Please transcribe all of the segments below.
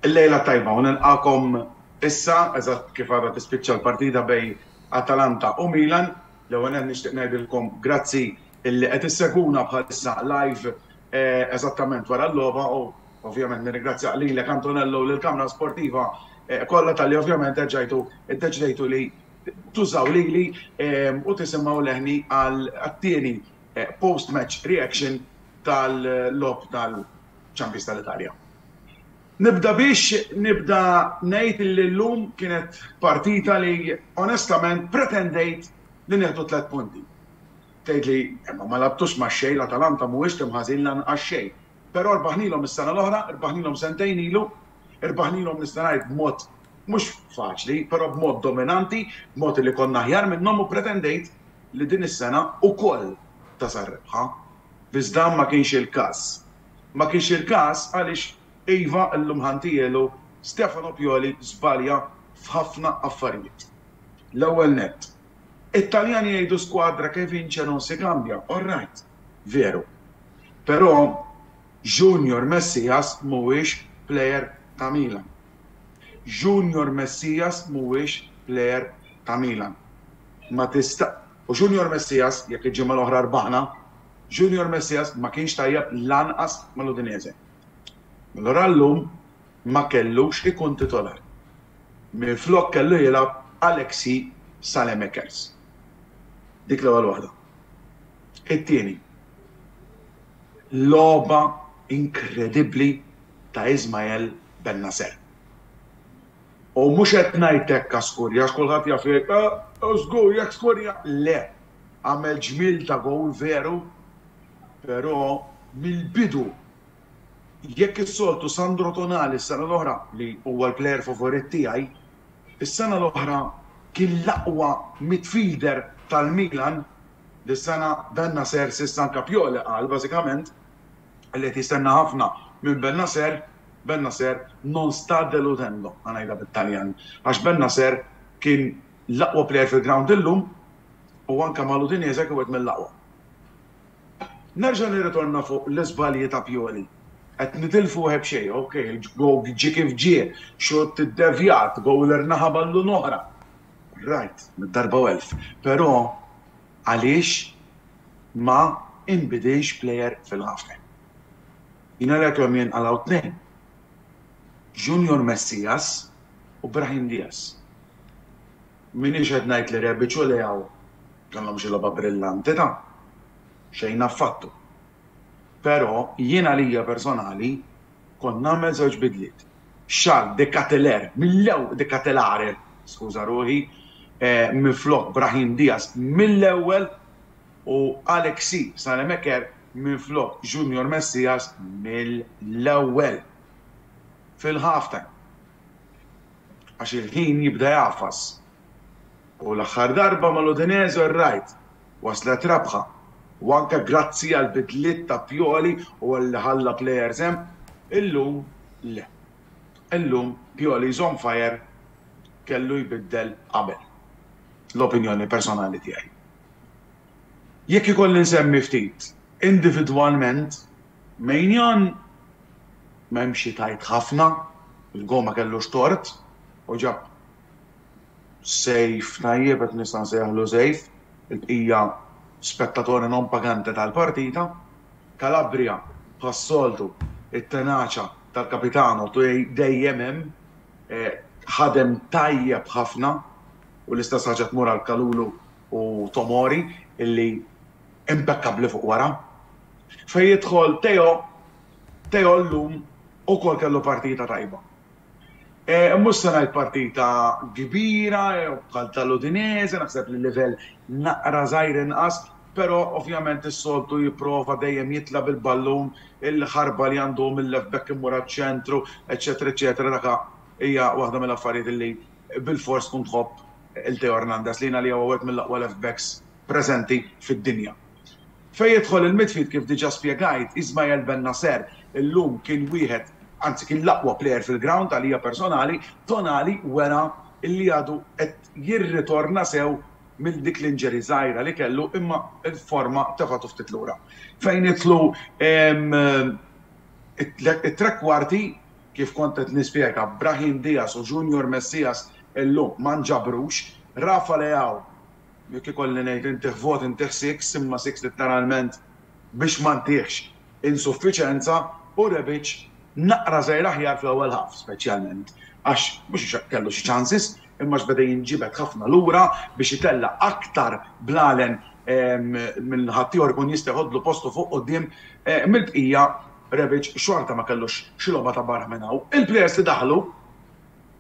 Il-lejla tajba, u nilqakom issa, eżatt kif għadha tispiċċa l-partita bejn Atalanta u Milan, l-ewwel qed nixtieq ngħidilkom grazzi illi qed isseguna bħalissa live eżattament wara l-logħba u ovvjament nirringrazzjak lilek Antonello u lill-Kamra Sportiva kollha talli ovvjament erġajtu iddeċidejtu li tużaw lili u tisimgħu leħni għat-tieni post match reaction tal-logħob tal-Champions tal-Italja. Nibda biex nibda ngħid li llum kienet partita li onestament pretendejt li nieħdu tliet punti. Tgħidli, imma ma lagħbtux ma' xejn, l-Atalanta mhuwiex tim ħażin lanqas xejn. Però rbaħnilhom is-sena l-oħra, rbaħnilhom sentejn ilu, rbaħnilhom nista' ngħid b'mod mhux faċli, però b'mod dominanti, b'mod li konna aħjar minnhom u pretendejt li din is-sena ukoll tasal r-rebħa. Iżda ma kienx il-każ. Ma kienx il-każ għaliex iva, illum ħantielu, Stefano Pioli żbalja f'ħafna affarijiet. L-ewwel nett, It-Taljani jgħidu squadra che vince non si cambia, all right, veru. Però Junior Messias mhuwiex plejer ta' Milan. Junior Messias mhuwiex plejer ta' Milan. Ma tista'. U Junior Messias, jekk il-ġimgħa l-oħra rbaħna, Junior Messias ma kienx tajjeb lanqas mal-Udinese. Allura llum ma kellux ikun titolar. Minflok kellu jilgħab Alexis Saelemaekers. Dik l-ewwel waħda. It-tieni, logħba inkredibbli ta' Ismael Bennacer. U mhux qed ngħid hekk għax skurja għax kulħadd jaf jgħid, ah, żgur jekk skurja. Le, għamel ġmiel ta' gowl veru, però mill-bidu Jekk is-soltu Sandro Tonali s-sena l-oħra, li huwa l-player favorit tiegħi, is-sena l-oħra kien l-aqwa midfielder tal-Milan, dis-sena Bennacer s'issa anke Pioli qal bażikament li qed jistenna ħafna minn Bennacer, Bennacer non sta deludendo, ħa ngħidha bit-Taljan, għax Bennacer kien l-aqwa player fil-ground illum u anke mal-Udinese kien wieħed mill-aqwa. Nerġa' nirritorna fuq l-iżbalji ta' Pioli. Qed nitilfu wieħed b'xejn, ok, il-goal ġie kif ġie, xutt iddevjat, goaler naħa ballun oħra. Right, mid-darba u elf. Però għaliex ma inbidilx player fil-halftime? Jien għalhekk l-għom jinqalgħu tnejn, Junior Messias u Brahim Diaz. M'iniex qed ngħid li Rebic u Leao kellhom xi logħba brillanti, ta' xejn affattu. Però jien għalija personali kont nagħmel żewġ bidliet. Charles De Ketelaere mill-ewwel, De Ketelaere, skuża ruħi, minflok Brahim Diaz mill-ewwel u Alexis Saelemaekers minflok Junior Messias mill-ewwel fil-half-time. għax il-ħin jibda jagħfas u l-aħħar darba mal-Udinese r-Raid waslet rebħa u anke grazzi għall-bidliet ta' Pioli u għalli ħalla players hemm, illum le. Illum Pioli is on fire kellu jbiddel qabel. L-opinjoni personali tiegħi. Jekk ikolli nsemmi ftit individwalment, Maignan m'hemm xi tgħid ħafna, il-goal ma kellux tort u ġab save tajjeb jekk nista' nsejjaħlu save, il-bqija spettatore non pagante tal-partita. Calabria bħas-soltu it-tenaċa tal-Capitano dejjem hemm, ħadem tajjeb ħafna u l-istess ħaġa tmur għal Kalulu u Tomori illi, impekkabbli fuq wara. Fejn jidħol Teo, Teo llum ukoll kellu partita tajba. Mhux se ngħid partita kbira bħal tal-Udinese, naħseb li l-livell naqra żgħir inqas, però ovvjament is-soltu jipprova dejjem jitla' bil-ballun, il-ħarba li għandu hu mil-left back immur għaċ-ċentru, eċċetera eċċetera, dak hija waħda mill-affarijiet li bilfors tkun tħobb 'il Teo Hernandez, li jien għalija huwa wieħed mill-aqwa left backs preżenti fid-dinja. Fejn jidħol il-midfield kif diġa spjegajt, Ismael Bennacer illum kien wieħed, anzi kien l-aqwa player fil-ground għalija personali, Tonali wera li għadu qed jirritorna sew minn dik l-injury żgħira li kellu imma l-forma tefgħtu ftit lura. Fejn jidħlu it-trekkwarti, kif kont qed nispjega, Brahim Diaz u Junior Messias illum ma nġabrux, Rafa Leao Jekk ikolli ngħid intih vot intih six imma six litteralment biex ma ntihx insuffiċenza u Rebic naqra żgħir aħjar fl-ewwel half speċjalment għax mhux għax kellu xi chances imma għax beda jinġibed ħafna lura biex itella' aktar bl-għalen minn ħaddieħor ikun jista' jħoddlu postu fuq quddiem mill-bqija Rebic xorta ma kellux xi logħba ta' barra minn hawn. Il-players li daħlu.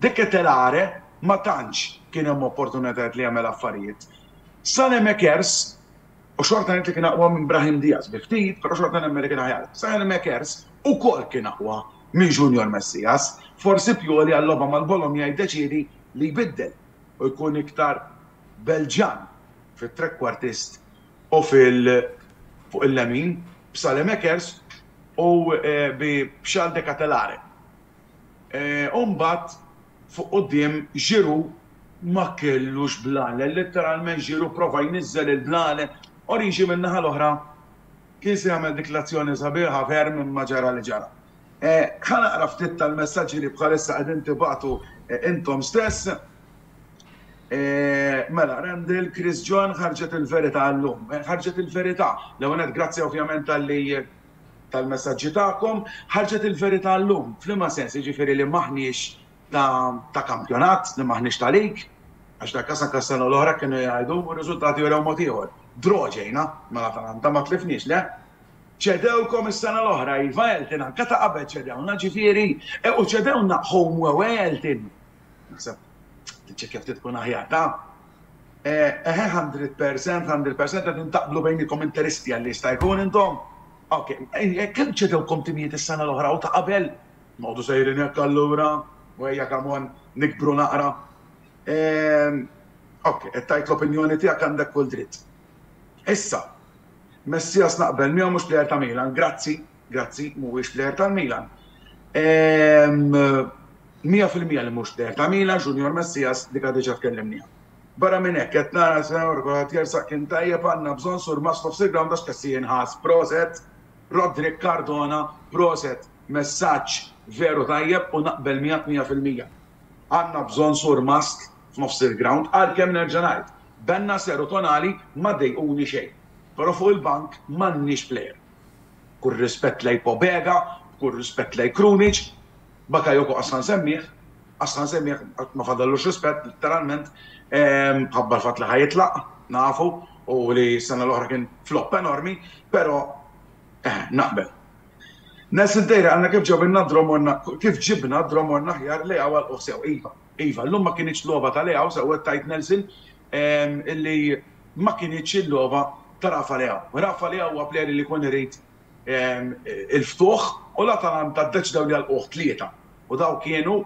De Ketelaere ma tantx kien hemm opportunitajiet li jagħmel affarijiet. Saelemaekers, u xorta ngħid li kien aqwa minn Brahim Diaz bi ftit, però xorta nemmen li kien aħjar, Saelemaekers ukoll kien aqwa minn Junior Messias. Forsi Pioli għal-logħba mal-Bologna jiddeċiedi li jbiddel u jkun iktar Belġjan fit-trekkwartist u fuq il-lemin b'Saelemaekers u bi Charles De Ketelaere. u mbagħad fuq quddiem Giroud ma kellux blale, letteralment Giroud prova jniżżel il-blale, Origi min-naħa l-oħra kien se jagħmel dik l-azzjoni sabiħa ferm imma ġara li ġara. Ħa naqra ftit tal-messaġġi li bħalissa qegħdin tibagħtu intom stess. Mela, Randall, Chris John, ħarġet il-verità llum. Ħarġet il-verità. L-ewwel nett grazzi ovvjament talli tal-messaġġi tagħkom, ħarġet il-verità llum. F'liema sens? Jiġifieri li m'aħniex ta' ta' kampjonat, li m'aħniex ta' league? Għax dak każ anke s-sena l-oħra kienu jgħidu u r-riżultati wrew mod ieħor. Draw ġejna mal-Atalanta, ma tlifniex, le? Ċedewkom is-sena l-oħra, iva Elton, anke ta' qabel ċedewna, ġifieri, u ċedewna home u away Elton. Naħseb tiċċekkja ftit tkun aħjar. Ta? Eħe 100%, 100% qed intaqblu bejnikom interisti għalli jista' jkun intom. Ok, kemm ċedewkom timijiet is-sena l-oħra u ta' qabel? Noqogħdu sejrin hekk allura, u ejja kamon nikbru naqra. Ok, qed tgħid l-opinjoni tiegħek għandek kull dritt. Issa, Messias naqbel miegħu mhux plejer ta' Milan, grazzi. Grazzi, mhuwiex plejer tal-Milan. Ehm, mija fil-mija li mhux plejer ta' Milan, Junior Messias, dik diġà tkellimniha. Barra minn hekk qed nara sewr kulħadd jersaq kien tajjeb għandna bżonn sur Maslow f'sir ground għax qed jinħass. Proset, Roderick Cardona, proset, messaġġ veru tajjeb u naqbel miegħek mija fil-mija. Għandna bżonn sur mast f'nofs il-ground għalkemm nerġa' ngħid, Benna Seru Tonali ma dejquni xejn. Però fuq il-bank m'għandniex plejer. B'kull rispett lejn Pobega, b'kull rispett lejn Krunic, Bakayoko qasna nsemmih, qasna nsemmih, ma fadallux rispett, litteralment, mħabba l-fatt li ħa jitlaq, nafu, u li s-sena l-oħra kien flop enormi, però eħe, naqbel. Nelson Tejra qalna kif ġabilna Dromorna, kif ġibna Dromorna aħjar Leao għal-lqugħ sew. Iva, iva, llum ma kinitx logħba ta' Leao, sewwa tgħid Nelson, li ma kinitx il-logħba ta' Rafa Leao. Rafa Leao huwa player li jkun irid il-ftuħ u l-Atalanta ddeċidew li jagħlquh tlieta u dawk kienu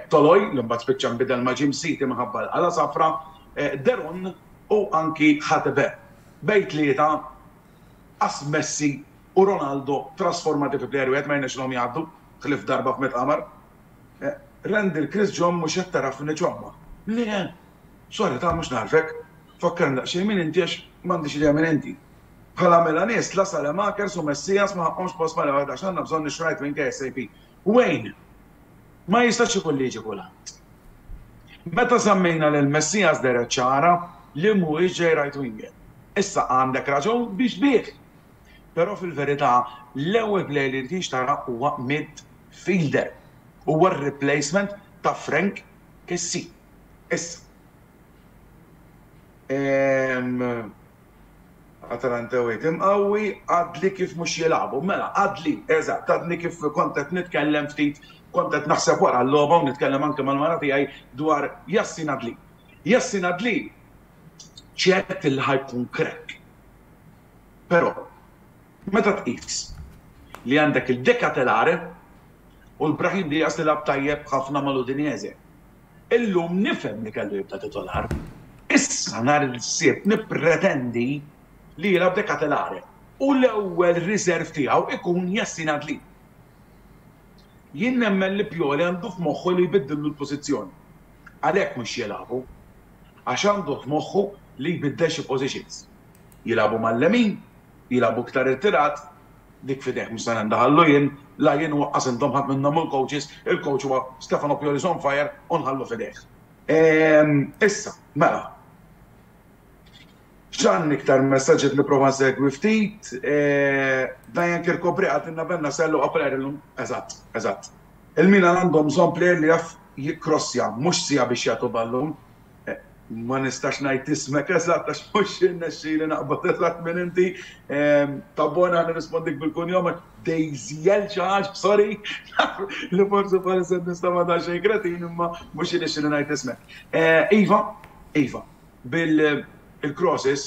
Toloi, li mbagħad spiċċa nbidel ma' Jim Siti minħabba l-Ala Safra, De Roon u anki Hatebe. Bejn tlieta qas Messi u Ronaldo trasformati fi player wieħed ma jirnexxilhom jgħaddu ħlief darba f'Mitt Qamar. Randy l-Chris John mhux qed tara f'min iċomma. Le! Sorry ta' mhux nagħrfek. Fakkarni daqsxejn min inti għax m'għandix idea min inti. Bħala Milanist la Salemakers u Messias ma ħaqqhomx post ma' Leonard għax għandna bżonn ix-xrajt minn KSAP. Wayne! Ma jistax ikun li jiġi kulħadd. Meta semmejna lil Messias dehret ċara li mhuwiex ġej right winger. Issa għandek raġun biex tbigħ! Però fil-verità l-ewwel player li rridx tara huwa midfielder. Huwa r-replacement ta' Frank Kessie. Issa. Ehm. Atalanta away tim qawwi, għadli kif mhux jilagħbu. Mela, għadli, eżatt, għadni kif kont qed nitkellem ftit, kont qed naħseb wara l-logħba u nitkellem anke mal-mara tiegħi dwar Yassin Adli. Yassin Adli ċert li ħa jkun crack. Però, meta tqis li għandek il-Decatelare u l Brahim Diaz li lagħab tajjeb ħafna mal-Udinese, illum nifhem li kellu jibda titolar. Issa nhar il-Sibt nippretendi li jilgħab Decatelare u l-ewwel riserv tiegħu jkun Yassin Adli. Jien nemmen li Pioli għandu f'moħħu li jbiddillu l-pożizzjoni. Għalhekk mhux jilagħbu. Għax għandu f'moħħu li jbiddel xi positions. Jilagħbu mal-lemin, jilagħbu iktar irtirat, dik f'idejh mhux se nindaħallu jien, la jien u aqqas intom ħadd minnhom hu l-coaches, il-coach huwa Stefano Pioli is on fire u nħallu f'idejh. Ehm, issa, mela. X'għandi iktar messaġġ qed nipprova nsegwi ftit, eh, Diane Kirkopri għatilna Benna Sellu għaplajer illum, eżatt, eżatt. Il-Milan għandhom bżonn plejer li jaf jikkrossja, mhux sija biex jagħtu ballun. ma nistax ngħid ismek eżatt għax mhux jirnexxili naqbad eżatt min inti, ta' bona nirrispondik bil-kunjom għax Dejżiel xi ħaġa, sorry, naf li forsi bħalissa nista' ma' daqsxejn kretin imma mhux jirnexxili ngħid ismek. Iva, iva, bil-crosses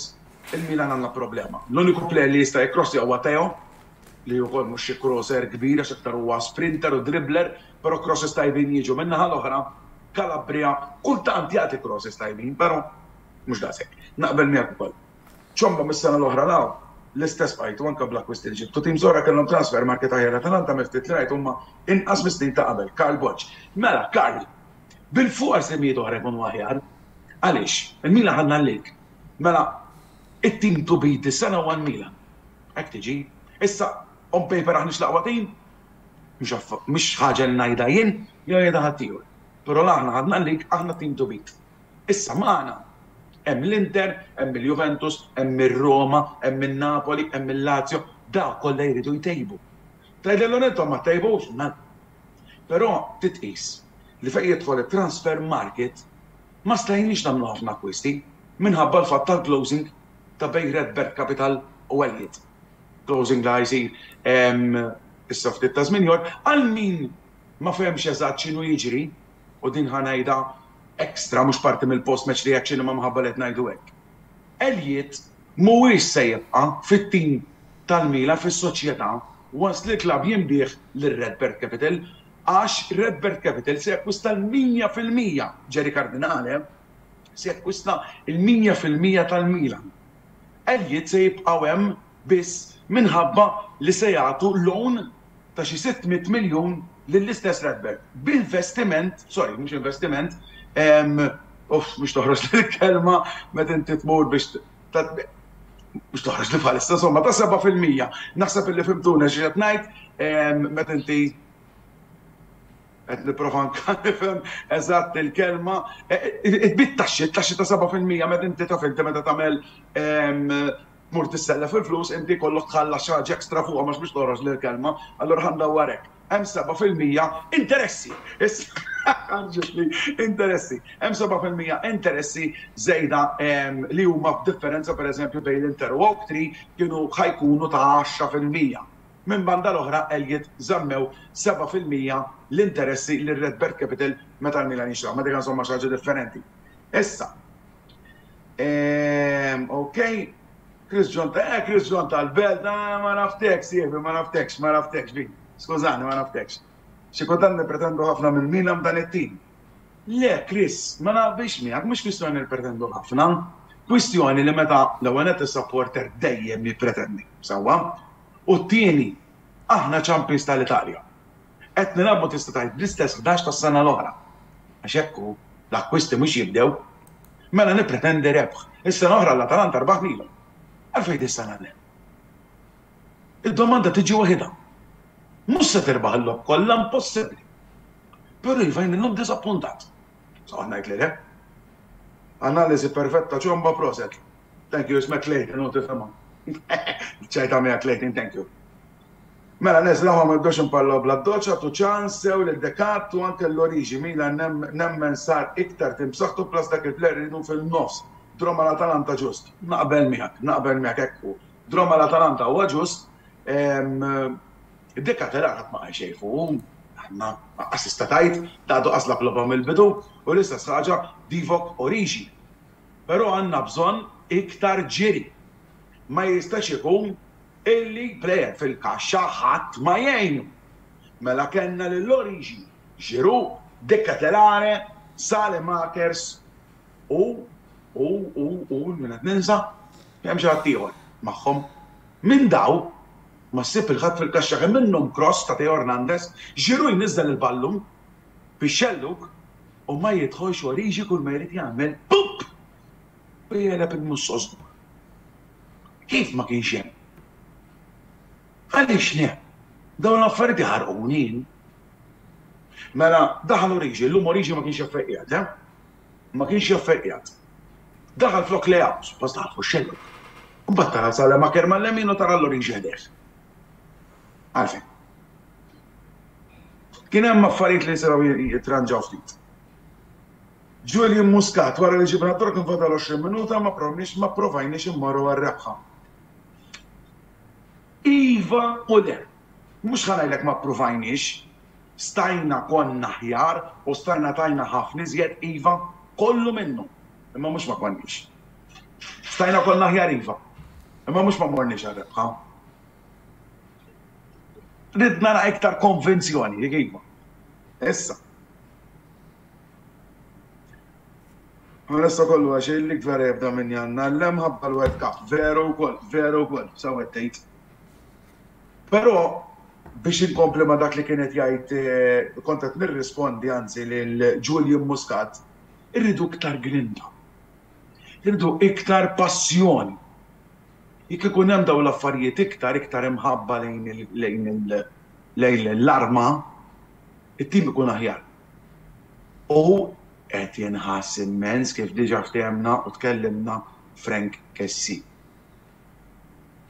il-Milan għandna problema. L-uniku plejer li jista' jikkrossja huwa Theo, li wkoll mhux xi crosser kbir għax aktar huwa sprinter u dribbler, però crosses tajbin jiġu min-naħa l-oħra, Calabria kultant jagħti crosses tajbin, però mhux daqshekk. Naqbel miegħek ukoll. Ciombo mis-sena l-oħra 'l hawn l-istess f'għajtu anke bl-akkwisti li ġibtu. Tim Zora kellhom transfer market aħjar Atalanta mill-ftit li rajt huma inqas mis-snin ta' qabel. Karl Borg. Mela, Karl, bilfors timijiet oħra jkunu aħjar. Għaliex? Il-Milan ħadna l-League. Mela, it-team to beat dis-sena huwa l-Milan. Hekk tiġi. Issa, on paper aħniex l-aqwa team, Mhix ħaġa li ngħidha jien jew jgħidha ħaddieħor. Però la aħna ħadna l-lig, aħna tim to beat. Issa magħna hemm l-Inter, hemm il-Juventus, hemm ir-Roma, hemm in-Napoli, hemm il-Lazio, dawk kollha jridu jtejbu. Tgħidilhom intom ma ttejbux, mela. Però trid tqis li fejn jidħol it-transfer market ma stajniex nagħmlu ħafna akkwisti minħabba l-fatt tal-closing ta' bejn Redbird Capital u Elliott. closing li ħa jsir issa ftit ta' żmien ieħor, għal min ma fehemx eżatt x'inhu jiġri, u din ħa ngħidha extra mhux parti mill-post match reaction imma minħabba li qed ngħidu hekk, Elliott mhuwiex se jibqa' fit-tim tal-Milan fis-soċjetà once li l-klabb jinbiegħ lil RedBird Capital għax RedBird Capital se jakkwista l-mija fil-mija, Jerry Cardinale se jakkwista l-mija fil-mija tal-Milan. Elliott se jibqgħu hemm biss minħabba li se jagħtu loan ta' xi 600 miljun lill-istess Redbird b'investiment, sorry mhux investiment, ehm, uff mhux toħroġli l-kelma meta inti tmur biex ta' mhux toħroġli bħalissa, insomma ta' seba' fil-mija. Naħseb illi fimtuni xi qed ngħid, ehm, meta inti Qed nipprova anke nifhem eżatt il-kelma. It-tbid taxxi, it-taxxi ta' seba' fil-mija meta inti taf inti meta tagħmel tmur tissellef il-flus inti jkollok tħallas xi ħaġa extra fuqhom għax biex toħroġ li l-kelma, allura ħa ndawwar hekk. Hemm seba' fil-mija interessi! Ġiet li interessi. Hemm seba' fil-mija interessi żejda li huma b'differenza pereżempju bejn l-Inter u Oaktree kienu ħa jkunu ta' għaxra fil-mija. Minn banda l-oħra Elliott żammew seba' fil-mija l-interessi lil RedBird Capital meta l-Milan jixtraw, imma dik insomma xi ħaġa differenti. Issa, ehm, ok, Chris John, eh Chris John tal-Belt, ah, ma naftekx, sieħbi, ma naftekx, ma naftekx, bi, skużani, ma naftekx. Xi kultant nippretendu ħafna minn Milan dan it-tim. Le, Chris, ma naqbilx miegħek, mhux kwistjoni nippretendu ħafna, kwistjoni li meta l-ewwel nett is-supporter dejjem jippretendi, sewwa, u t-tieni aħna champions tal-Italja. Qed nilagħbu tista' tgħid bl-istess ħdax tas-sena l-oħra, għax hekk hu, l-akkwisti mhux jibdew. Mela nippretendi rebħ. Is-sena l-oħra l-Atalanta rbaħ lilhom. Għalfejn dis-sena le? Id-domanda tiġi waħidha. Mhux se tirbaħ il-logħob kollha, impossibbli. Però iva jien illum diżappuntat. Se noqgħod ngħid li le. Analiżi perfetta Ciomba, proset. Thank you, ismek Clayton u tifhimha. Ċajta miegħek Clayton, thank you. Mela neżlawha ma nibdewx inparlaw bl-addoċċ, agħtu ċans sew lil Decat u anke l-Origi, Milan nemmen sar iktar tim b'saħħtu plus dak il-player iridu fin-nofs, draw mal-Atalanta ġust. Naqbel miegħek, naqbel miegħek hekk hu. Draw mal-Atalanta huwa ġust, Decat era qatt ma qal xejn fuqu, ma qassista tgħid, ta' għadu qaslak logħba mill-bidu u l-istess ħaġa Divock Origi. Però għandna bżonn iktar ġiri. Ma jistax ikun illi plejer fil-kaxxa ħadd ma jgħinu. Mela kellna lil Origi, Giroud, De Ketelaere, Saelemakers u, u, u, u min qed ninsa? Hemm xi ħadd ieħor magħhom. Minn daw ma ssib lil ħadd fil-kaxxa kemm minnhom kross ta' Theo Hernandez, Giroud jniżżel il-ballun, fix-xellug u ma jidħolx oriġi kull ma jrid jagħmel pupp! u jegħleb il-mussoż kbur. Kif ma kienx hemm? Għaliex le? Dawn l-affarijiet iħarquni jien. Mela daħal oriġi, illum oriġi ma kienx jaf fejn qiegħed, eh? Ma kienx jaf fejn qiegħed. Daħal flok layout, suppost daħal fuq xellug. Mbagħad tara sal-emaker mal-lemin u tara l-oriġi ħdejh. Għalfejn? Kien hemm affarijiet li setgħu jitranġaw ftit. Julian Muscat, Wara li ġibna t-trok kien fadal 20 minuta ma provniex ma pprovajniex immorru għar-rebħa. Iva u le. Mhux ħa ngħidlek ma ppruvajniex. Stajna, konna aħjar u stajna tajna ħafna iżjed, iva, kollu minnu, imma mhux ma konniex. Stajna konna aħjar iva, imma mhux ma morniex għar-rebħa. Rid nara iktar konvinzjoni, jekk iva. Issa. Għalessa kollu għax il-lik vera jibda minn janna, l-lem ħabba l-World Cup, veru u koll, veru u koll, sa' wettejt. Pero, biex inkompli ma dak li kienet jgħid eh, kontet nirrispondi għanzi l-Julian Muscat, irridu iktar grinda. Irridu iktar passjoni. Jekk ikun hemm dawn l-affarijiet iktar, iktar imħabba lejn l-arma, it-tim ikun aħjar. U qed inħass immens kif diġà ftehemna u tkellimna Frank Kessie.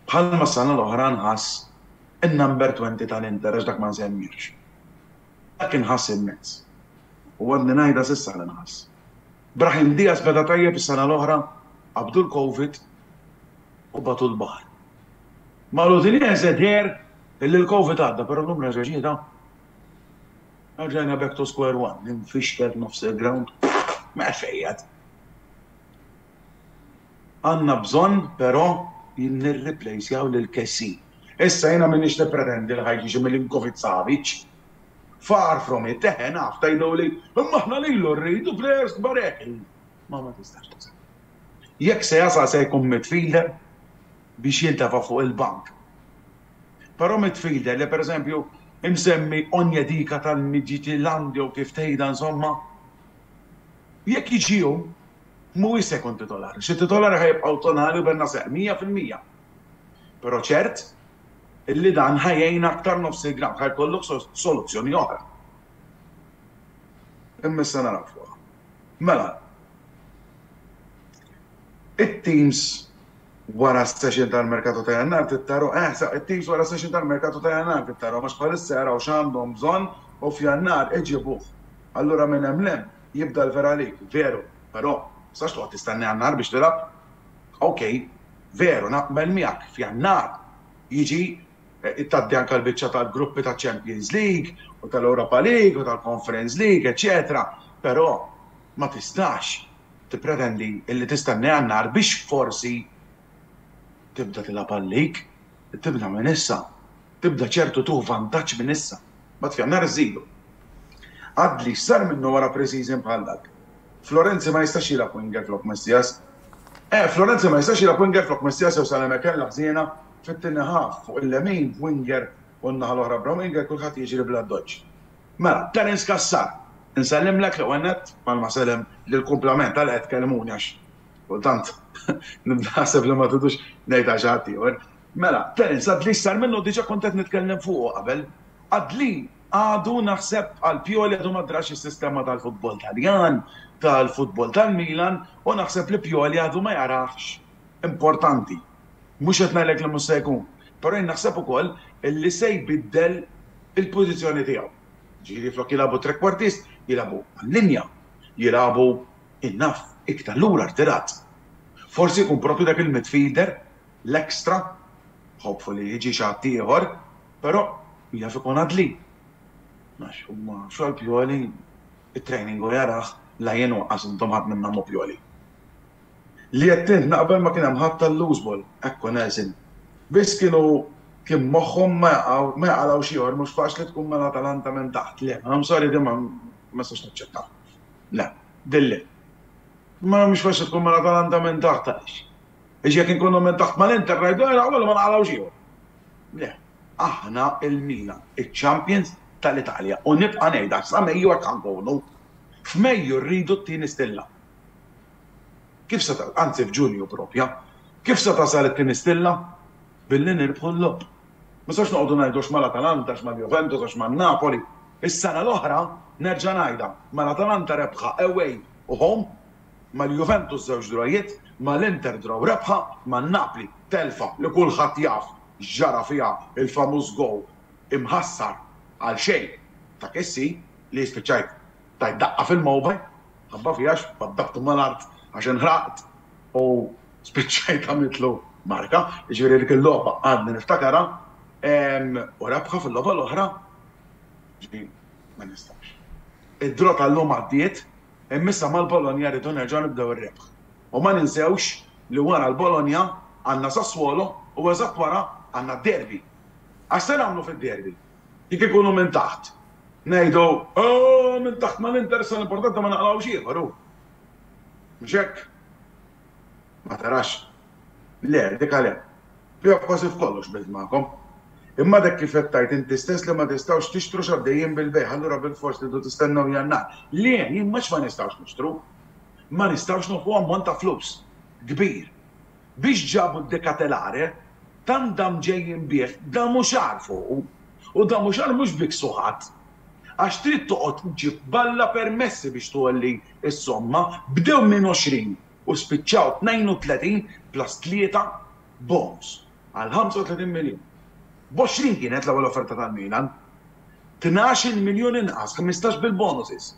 Bħalma s-sena l-oħra nħass in-number twenty tal-Inter għax dak ma nsemmihx. Dak inħass immens. U għadni ngħidha s'issa li nħass. Brahim Diaz beda tajjeb is-sena l-oħra, qabdu l-Covid u bagħtuh l-baħar. Mal-Udinese deher illi l-Covid għadda però llum reġa' ġietha. Erġajna back to square one, imfixkel nofs il-grawnd. M'hemm fejn jgħadd. Għandna bżonn però li nirriplejsjaw lil Kessie. Issa jiena m'iniex nippretendi li ħa jiġi xi Milinkovic-Savic, Far from it, eħe naf, tgħiduli, imma aħna lilu rridu players kbar hekk. Imma ma tistax tuża. Jekk se jasal se jkun midfielder biex jintefa' fuq il-bank. Però midfielder li pereżempju imsemmi Onyedika tal-Midtjylland jew kif tgħidha insomma, jekk jiġi hu, mhuwiex se jkun titolari. Xi titolari ħa jibqgħu Tonali u Bennacer, mija fil-mija. Però ċert, Li dan ħa jgħin aktar nofs il-gramm, ħa jkollok soluzzjoni oħra. Imma issa naraw fuqha. Mela, it-teams wara s-session tal-merkatu ta' jannar tittaru, eh, sa' it-teams wara s-session tal-merkatu ta' jannar tittaru, għax bħalissa jaraw x'għandhom bżonn u f'jannar iġibuh. Allura minn hemm l-hemm jibda l-vera lig, veru, però sax toqgħod tistenni jannar biex tilgħab. Ok, veru, naqbel miegħek, f'Jannar jiġi tgħaddi anke l-biċċa tal-gruppi taċ-Champions League u tal-Europa League u tal-Conference League, eċċetera, però ma tistax tippretendi li tistenna Jannar biex forsi tibda tilgħab għal-league. Tibda minn issa. Tibda ċertu tuh vantaġġ minn issa. Mbagħad f'Jannar iżżidu. Adli x'sar minnu wara pre-season bħal dak? Florenzi ma jistax jilgħab winger flok Messias. Eh, Florenzi ma jistax jilgħab winger flok Messias jew Saleme kellha ħżiena fit-tieni half fuq il-lemin b'winger u n-naħa l-oħra b'Rominger kulħadd jiġri bl-addoċċ. Mela, Terence Cassar, insellimlek l-ewwel nett, bħalma sellem lill-kumplament għalhekk qed tkellmuni għax Kultant, nibda naħseb li ma tridux ngħidha xi ħadd ieħor. Mela, Terence Adli sar minnu diġà kont qed nitkellem fuqu qabel. Adli għadu naħseb għal Pioli għadu ma drax is-sistema tal-futbol Taljan, tal-futbol tal-Milan u naħseb li Pioli għadu ma jarahx importanti. Mhux qed ngħidlek li mhux se jkun, però jien naħseb ukoll li se jbiddel il-pożizzjoni tiegħu. Ġifieri flok jilagħbu trequartist, jilagħbu għal linja, jilagħbu Jien naf, iktar lura rtirat. Forsi jkun proprju dak il-midfielder, l-extra, hopefully jiġi xi ħaddieħor, però jaf ikun Adli. Għax huma xogħol Pioli, it-training hu jarah, la jien waqqas intom ħadd minnhom hu Pioli. Li għedt int naqbel ma kien hemm ħadd għall-loose ball, hekk hu Nelson. Biss kienu kien moħħhom ma jaqgħu, ma jaqalgħux ieħor, mhux faċli tkun mal-Atalanta minn taħt, le, I'm sorry din ma nistax naċċettaha. Le. Dilli. Mela mhux forsi tkun mela dan għandha minn taħt għaliex? Għax jekk inkunu minn taħt mal-Inter ngħidu ejja naħmlu ma naqalgħux ieħor. Le. Aħna il-Milan, iċ-champions tal-Italja u nibqa' ngħidha sa Mejju hekk ħa nkunu. F'Mejju rridu t-tieni stilla. Kif se anzi f'Ġunju propja. Kif se tasal it-tieni stilla? billi nirbħu l-logħob. Ma nistgħux noqogħdu ngħidu għax mal-Atalanta, għax mal-Juventus, għax man-Napoli. Is-sena l-oħra, nerġa' ngħidha, mal-Atalanta rebħa away u home, mal-Juventus żewġ drawjiet, mal-Inter draw rebħa, man-Napli telfa li kulħadd jaf x'ġara fiha il-famuż goal imħassar għal xejn ta' Kessie li spiċċajt. tajt daqqa fil-mowba' minħabba fija għax waddabtu mal-art għax inħraqt u spiċċajt għamiltlu marka. Jiġifieri dik il-logħba għadni niftakarha u rebħa fil-logħba l-oħra ġifieri ma nistax. Id-draw tal-lum għaddiet imma issa mal-Bologna rridu nerġgħu nibdew ir-rebħ. U ma ninsewx li wara l-Bologna għandna Sassuolo u eżatt wara għandna d-derby. Għax se nagħmlu fid-derby? Jekk ikunu minn taħt, ngħidu, Ooh, minn taħt ma ninteressa, l-importanti ma naqlgħux ieħor, hu. Mhux hekk? Ma tarax? Le, dik għalhekk. Fiha kważi f'kollox qbilt magħkom. Imma dak kif qed tgħid inti stess li ma tistgħux tixtru x'għaddejjin bil-bejgħ, allura bilfors tridu tistennew Jannar. Le, jien mhux ma nistgħux nixtru. Ma nistgħux nofqu ammont ta' flus kbir. biex ġabu d-Decatelare, tant da mġejjin bih, da mhux għar fuqu, u da mhux għar mhux bik suħat, għax trid toqgħod ġġib b'Alla permessi biex tgħolli s-somma, bdew minn għoxrin u spiċċaw tnejn u tletin plus tlieta bonus għal ħamsa u tletin miljun. B'għoxrin kienet l-ewwel offerta tal-Milan. Tnax-il miljun inqas, ħmistax bil-bonuses.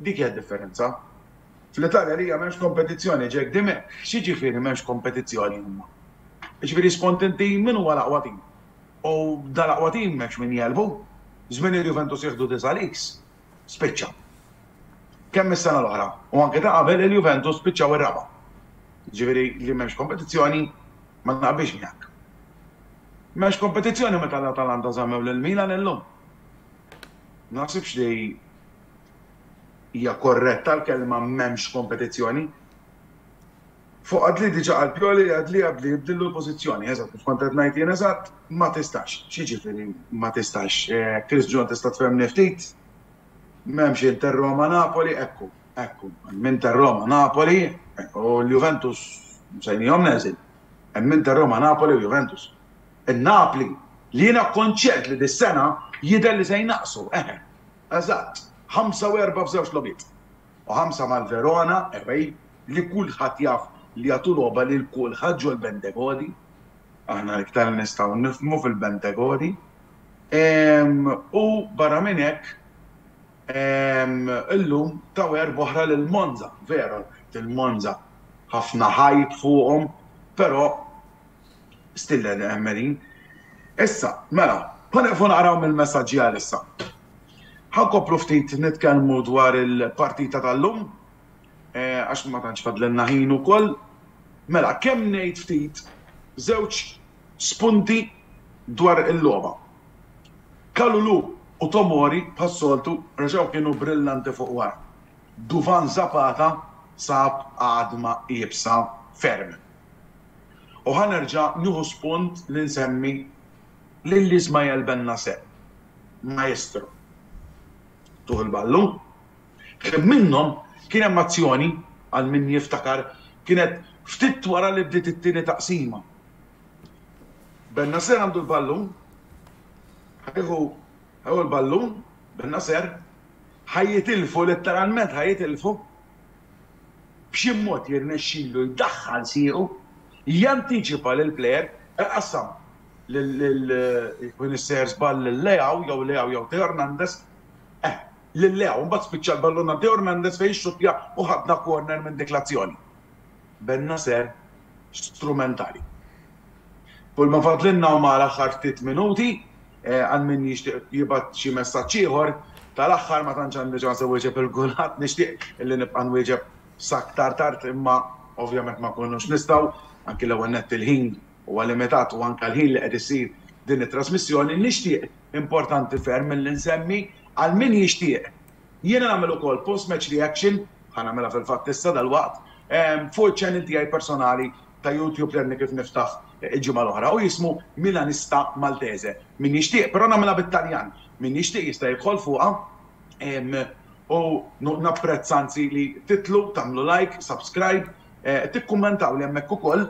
Dik hija d-differenza. Fl-Italja għalija m'hemmx kompetizzjoni, Jack Dimech, X'jiġifieri m'hemmx kompetizzjoni imma? Jiġifieri skont inti min huwa l-aqwa tim? U dal-aqwa tim m'hemmx min jegħlbu? Żmien il-Juventus jieħdu disa' leagues? Spiċċa. Kemm is-sena l-oħra, u anke ta' qabel, il-Juventus spiċċaw ir-raba'. Jiġifieri li m'hemmx kompetizzjoni ma naqbilx miegħek. M'hemmx kompetizzjoni meta l-Atalanta żammew lil Milan illum. Ma naħsibx li Hija korretta l-kelma m'hemmx kompetizzjoni? Fuq Adli diġa qal Pioli li Adli Adli jibdillu l-pożizzjoni, eżatt kif kont qed ngħid jien eżatt, ma tistax. X'jiġifieri ma tistax? Chris John tista' tfehmni ftit? M'hemmx Inter Roma Napoli, ekku, ekku, hemm Inter Roma Napoli u l-Juventus msejnihom neżil. Hemm Inter Roma Napoli u Juventus. In-Napli, li jiena konċert li dis-sena jidher li se jnaqqsu, eħe. Eżatt, ħamsa u erbgħa f'żewġt logħbiet. U ħamsa mal-Verona, away, li kulħadd jaf li jagħtu logħba lil kulħadd ġol-Bentegodi. Aħna l-iktar li nistgħu nifhmu fil-Bentegodi. U barra minn hekk, illum taw erbgħa oħra lil Monza. Veru, il-Monza ħafna hype fuqhom, però stillel Emmeline. Issa, mela, ħa nieqfu naqraw mill-messaġġi għalissa. Ħa nkomplu ftit nitkellmu dwar il-partita tal-lum, għax ma tantx fadlilna ħin ukoll. Mela, kemm ngħid ftit żewġ spunti dwar il-logħba. Kalulu u Tomori bħas-soltu reġgħu kienu brillanti fuq wara. Duvan Zapata sab għadma iebsa ferm. U ħa nerġa' nieħu spunt li nsemmi lil Ismael Bennacer, maestro Tuħ il-Ballu. Ħsieb minnhom kien hemm azzjoni, għal min jiftakar, kienet ftit wara li bdiet it-tieni taqsima. Bennacer għandu l-ballun, ħa jieħu, ħa jieħu l-ballun, Bennacer, ħa jitilfu, letteralment ħa jitilfu, b'xi mod jirnexxilu jdaħħal siequ, jantiċipa lill-plejer, iqassam lil min issejjaħ żball lil Leao jew Leao jew Theo Hernandez, eh, lil Leao, imbagħad spiċċa l-ballun għand Theo Hernandez fejn ixxuttja u ħadna corner minn dik l-azzjoni. Ben-Nasser strumentali. Kull ma fadlilna huma l-aħħar ftit minuti għal min jixtieq jibgħat xi messaġġ ieħor. Tal-aħħar ma tantx għandi ċans iwieġeb il-kulħadd, nixtieq li nibqa' nwieġeb s'aktar tard imma ovvjament ma nkunux nistgħu, anki l-ewwel nett il-ħin huwa limitat u anke l-ħin li qed issir din it-trasmissjoni. Nixtieq, importanti ferm, milli nsemmi għal min jixtieq, Jiena nagħmel ukoll post-match reaction, ħa nagħmilha fil-fatt issa dalwaqt, fuq iċ-channel tiegħi personali ta' YouTube li għadni kif niftaħ il-ġimgħa l-oħra u jismu Milanista Maltese. Min jixtieq, però nagħmilha bit-Taljan, min jixtieq jista' jidħol fuqha u napprezza anzi li titlu, tagħmlu like, subscribe, tikkummentawli hemmhekk ukoll.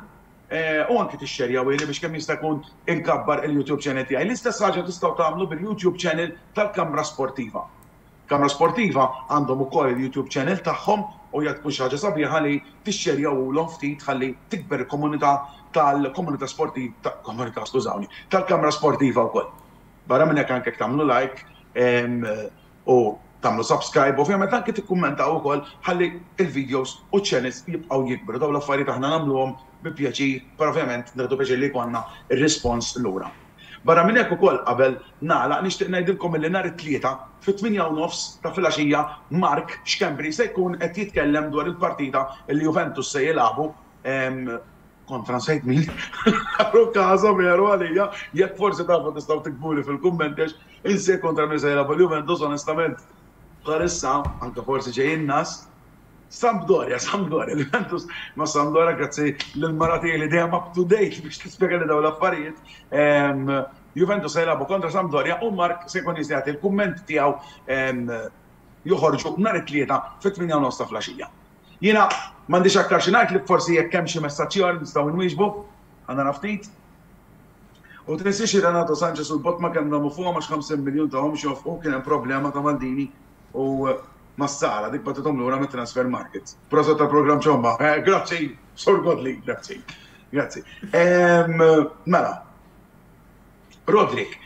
u anki tixxerjawhieli biex kemm jista' jkun inkabbar il-YouTube channel tiegħi. L-istess ħaġa tistgħu tagħmlu bil-YouTube channel tal-Kamra Sportiva. Kamra Sportiva għandhom ukoll il-YouTube channel tagħhom u hija tkun xi ħaġa sabiħa li tixxerjawhulhom ftit ħalli tikber il-komunità tal-komunità sportiv komunità skużawni tal-Kamra Sportiva wkoll. Barra minn hekk anke jekk tagħmlu like u tagħmlu subscribe ovvjament anke tikkummentaw ukoll ħalli l-videos u ċ-channels jibqgħu jikbru. Dawn l-affarijiet aħna nagħmluhom bi pjaċir, però ovvjament nieħdu pjaċir li jkollna r-rispons lura. Barra minn hekk ukoll qabel nagħlaq nixtieq ngħidilkom illi nhar it-Tlieta fit-tmienja u nofs ta' filgħaxija Mark Schembri se jkun qed jitkellem dwar il-partita li Juventus se jilagħbu Kont transejt min Aro Casa veru għalija, jekk forsi tafu tistgħu tiktbuli fil-kummenti għax insejt kontra min se jilgħab għal Juventus onestament bħalissa anke forsi ġej inqas. Sampdoria, Sampdoria, Juventus ma' Sampdoria grazzi lil mara tiegħi li dejjem up to date biex tispjega li daw l-affarijiet. Ehm, Juventus se jilagħbu kontra Sampdoria u Mark se jkun jista' jagħti l-kumment tiegħu ehm, joħorġu nhar it-tlieta fit-8 nofs ta' flaxija. Jiena m'għandix aktar xi ngħidlek forsi jekk hemm xi messaġġ ieħor li nistgħu inwieġbu, ħa nara ftit. U tinsiex li Renato Sanches u l-Botma kemm damu fuqhom għax 50 miljun tahom biex jonfqu kien hemm problema ta' Maldini u Massara dik bagħtithom lura mit-transfer market. Proset tal-programm Ciomba. Grazzi Sur Godley, grazzi. Grazzi. Mela, Roderick,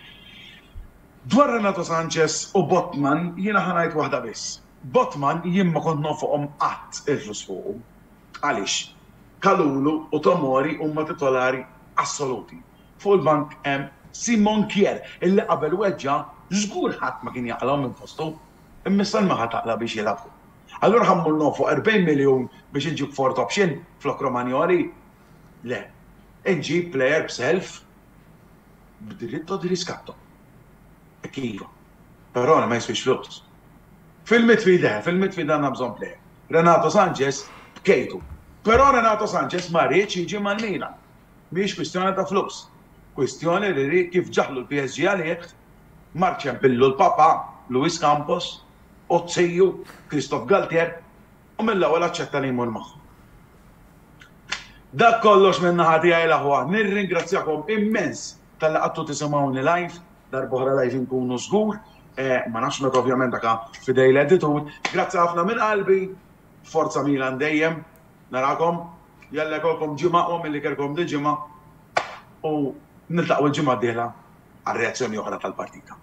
dwar Renato Sanches u Botman jiena ħa ngħid waħda biss. Botman jien ma kont nonfoqhom qatt il-flus fuqu. Għaliex? Kalulu u Tomori huma titolari assoluti. Fuq il-bank hemm Simon Kjær illi qabel weġġa' żgur ħadd ma kien jaqlgħu minn postu. Imma issa liema ħadd aqla' biex jilgħabu? Allura ħa mmur nonfoq erbgħin miljun biex inġib fourth option flok Romagnoli? Le. Inġib player b'self b'diritto di riscatto. Hekk iva. Però ma jiswiex flus. Fil-midfield le, fil-midfield għandna bżonn plejer. Renato Sanches bkejtu. Però Renato Sanches ma riedx jiġi mal-Milan. Mhijiex kwistjoni ta' flus. Kwistjoni li ried kif ġaħlu l-PSG għalih, mar ċempillu l-papà, Luis Campos, u t-tiju, Christophe Galtier, u mill-ewwel aċċetta li jmur magħhom. Dak kollox min-naħa tiegħi l-aħwa. Nirringrazzjakom immens talli qagħdtu tisimgħuni live. Darb'oħra live inkunu żgur. Ma nafx meta ovvjament dak f'idej l-editur. Grazzi ħafna minn qalbi. Forza Milan dejjem. Narakom. Jalla jkollkom ġimgħa aqwa milli kellkom din ġimgħa. U niltaqgħu l-ġimgħa d-dieħla għal reazzjoni oħra tal-partita.